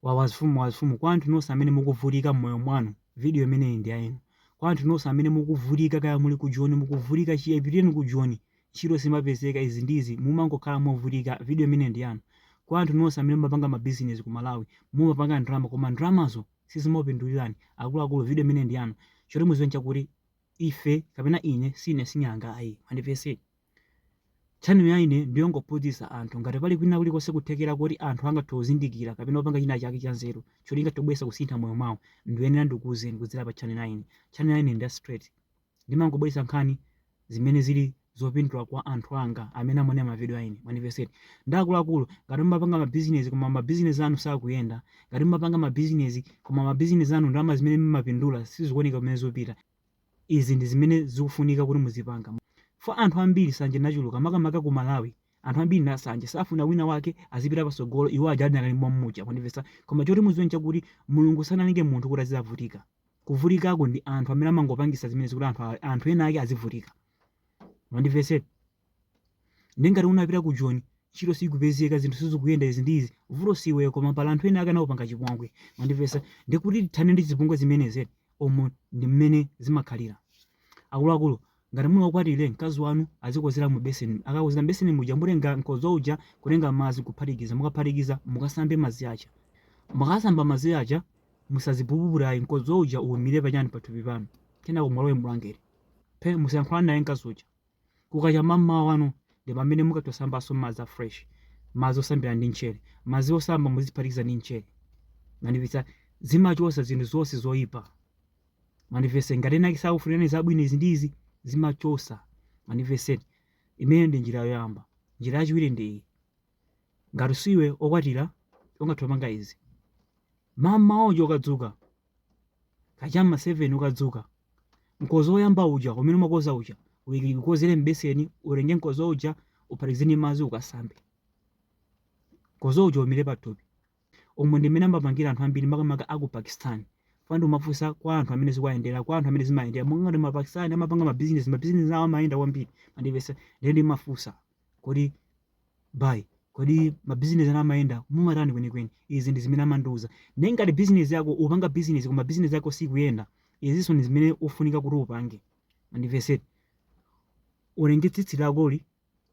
wawa zifumu wawa zifumu kwa anthu nonse amene mukuvutika mmoyo mwanu video imeneyi ndi ya inu kwa anthu nonse amene mukuvutika kaya muli ku Joni mukuvutika chiyambireni ku Joni ntchito simapezeka izi ndi izi mumangokhala movutika video imeneyi ndi yanu kwa anthu nonse amene mumapanga mabizinesi ku Malawi mumapanga ndalama koma ndalamazo sizimapindulirani akuluakulu video imeneyi ndi yanu choti muziwe nchakuti ife kapena ine sine sing'anga ayi mwandimvetsa eti Channel ya ine ndiyongophunzitsa anthu ngati pali kwina kulikonse kuthekera koti anthu angathe kuzindikira kapena kupanga china chake cha nzeru choti chingathe kubweretsa kusintha mmoyo mwawo ndiyenera ndikuuzeni kudzera pa channel ya ine. Channel ya ine ndi ya straight. Ndimangobweretsa nkhani zimene zili zopindula kwa anthu anga amene amaonera ma video a ine. Mwandimvetsa eti. Ndiye akuluakulu ngati mumapanga ma business koma ma business anu sakuyenda, ngati mumapanga ma business koma ma business anu ndalama zimene mumapindula sizikuoneka kumene zikupita, Izi ndi zimene zikufunika kuti muzipanga chifukwa anthu ambiri sanje inachuluka makamaka ku Malawi anthu ambiri ndi asanje safuna wina wake azipita patsogolo iwo aja adinakali mommuja mwandimvetsa koma choti muziwe nchakuti Mulungu sanalenge munthu kuti azizavutika kuvutikako ndi anthu amene amangopangisa zimenezi kuti anthu ena ake azivutika mwandimvetsa eti ndiye ngati unapita ku joni ntchito sikupezeka zinthu sizikuyenda izi ndi izi vuto siweyo koma pali anthu ena ake anakupanga chipongwe mwandimvetsa ndiye kuti tithane ndi zipongwe zimenezi umu ndi mmene zimakhalira akuluakulu ngati muli okwatira mkazi wanu azikozera mu beseni akakozera mbeseni muja mutenga mkodzo uja kutenga madzi kuphatikiza mukaphatikiza mukasambe madzi aja mukasamba madzi aja musazipukute ayi mkodzo uja uwumire pachani pathupi panu kenako mulowe mbulangeti phe musayankhulane naye mkazi uja Kukacha mammawa wanu ndipamene mungathe kusambanso madzi a fresh, madzi osambira ndi mchere. Madzi osamba muziphatikiza ndi mchere. Mwandimvetsa? Zimachotsa zinthu zonse zoipa. Mwandimvetsa? Ngati ena ake sakufunirani zabwino izi ndi izi, zimachotsa. Mwandimvetsa? Imeneyo ndi njira yoyamba. Njira yachiwiri ndi iyi. Ngati siwe okwatira, ungathe kupanga izi. Mammawa uja ukadzuka, kacha m'ma 7 ukadzuka mkozo woyamba uja umene umakoza uja uiki- ukozere m'beseni utenge mkozo uja uphatikize ndi madzi ukasambe mkozo uja uwumire pathupi umu ndi mmene amapangira anthu ambiri makamaka aku pakistan chifukwa ndimafunsa kwa anthu amene zikuwayendera kwa anthu amene zimayendera monga ngati mapakistan amapanga mabizinesi mabizinesi awo amayenda kwambiri mwandimvetsa ndiye ndimafunsa kodi bai kodi mabizinesi anu amayenda mumatani kwenikweni izi ndi zimene amandiuza ndiye ngati bizinesi yako upanga bizinesi koma bizinesi yako sikuyenda izinso ndi zimene ufunika kuti upange mwandimvetsa eti utenge tsitsi lakoli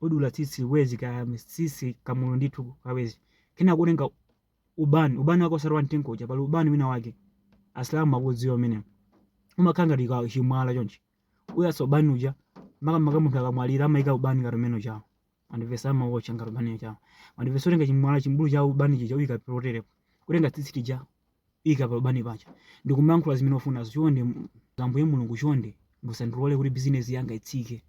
udula tsitsi wezi ka tsitsi kamulu ndithu kawezi kenako utenga ubani ubani wako osati wamtengo uja pali ubani wina wake asilamu akudziwa umene umakhala ngati ka chimwala chonchi uyatsa ubani uja makamaka munthu akamwalira amayika ubani ngati umene ujawo mwandivesa amawotcha ngati ubani ujawo mwandivesa utenga chimwala chimbulu cha ubani chija uyika poterepo utenga tsitsi lija uyika pa ubani paja ndikumayankhula zimene ufunazo chonde m- ambuye mulungu chonde musandilole kuti bizinesi yanga itsike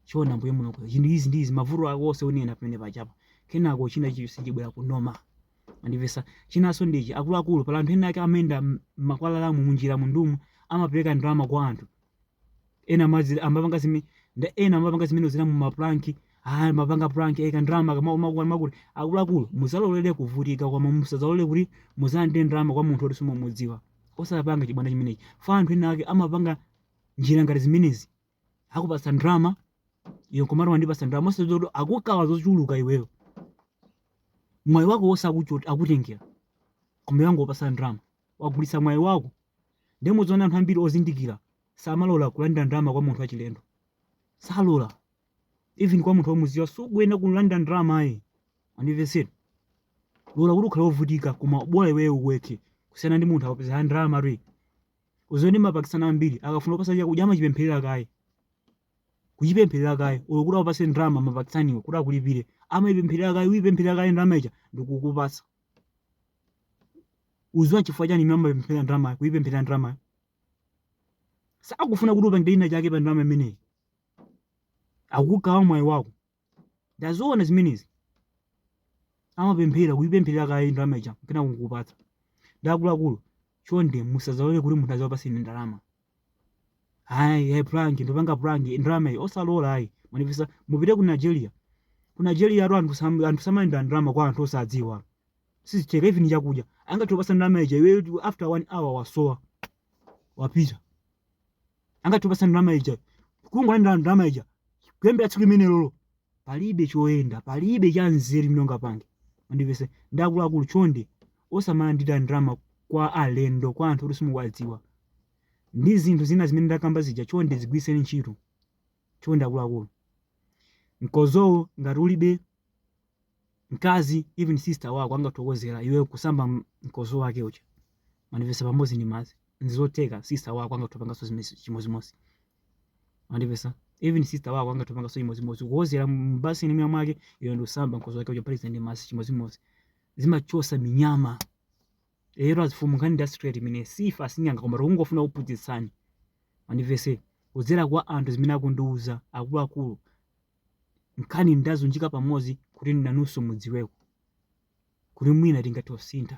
chonde ambuye mulungu chinthu izi ndi izi mavuto ako onse unena pamene pajapa kenako china chilichonse chibwera ku normal Mwandivesa? Chinaso ndi ichi akuluakulu pali anthu ena ake amayenda mmakwalalamu munjiramu ndumu amapeleka ndalama kwa anthu ena madzi amapanga zime nda ena amapanga zimene zina mumapranki ah mapanga prank eko ndalama kamakuti makuti akuluakulu muzalolere kuvutika koma musazalole kuti muzalandire ndalama kwa munthu oti simumudziwa osapanga chibwana chimenechi fa anthu ena ake amapanga njira ngati zimenezi akupatsa ndalama iyo kumati wandipatsa ndalama osadziwa kuti akukawa zochuluka iweyo mwayi wako wonse akuchot- akutengera koma wangokupatsa ndalama wagulitsa mwayi wako ndiye mudziona anthu ambiri ozindikira samalola kulandira ndalama kwa munthu wachilendo salola even kwa munthu womuziwa sukuyenera kulandira ndalama ayi mwandivesa lola kuti ukhale wovutika koma bola iweyo uweke kusiyana ndi munthu akupase ndalama iwe uzaone mapakistan ambiri akafuna kupasa chakudya amachipempherera kaye kuchipempherera kaye olo kuti akupase ndalama mapakistaniwo kuti akulipire amayipempherera kaye kuyipempherera kaye ndalama ija ndikukupasa uziwa chifukwa chani imene amapempherera ndalama kuyipempherera ndalama sakufuna kuti upangire china chake pa ndalama imeneyi akukawa mwayi wako ndaziona zimenezi amapemphera kuipempherera kaye ndalama ija kena kukupatsa ndi akuluakulu chonde musazalole kuti munthu azakupaseni ndalama hayi hayi prank ndopanga prank ndalama iyi osalola ayi mwandivesa mupite ku nigeria ku nigeria atu anthu sam- anthu samalandira ndalama kwa anthu osadziwa sizitheka even chakudya angathe kupasa ndalama ija iwe after one hour wasowa wapita angathe kupasa ndalama ija kungolandira ndalama ija kuyambira tsiku limenelolo palibe choyenda palibe cha nzeru chimene ungapange mwandivesa nde akuluakulu chonde osamalandira ndalama kwa alendo kwa anthu oti simukuwadziwa ndi zinthu zina zimene ndakamba zija chonde zigwiritseni ntchito chonde akuluakulu mkozowo ngati ulibe mkazi even sister wako angathe kukozera iwe kusamba mkozo wake uja mwandivesa pamodzi ndi madzi ndizoteka sister wako angathe kupangaso zimezi chimozimozi mwandivesa even sister wako angathe kupangaso chimozimozi kukozera mbasini mwa mwake iwe ndikusamba mkozo wake uja phatikiza ndi madzi chimozimozi zimachosa minyama lero azifumu nkhani ndi straight imene sife asing'anga koma tikungofuna kuphunzitsani mwandivesa kudzera kwa anthu zimene akundiuza akuluakulu Nkhani ndaziunjika pamodzi kuti nanunso mudziweko kuti mwina tingathe kusintha.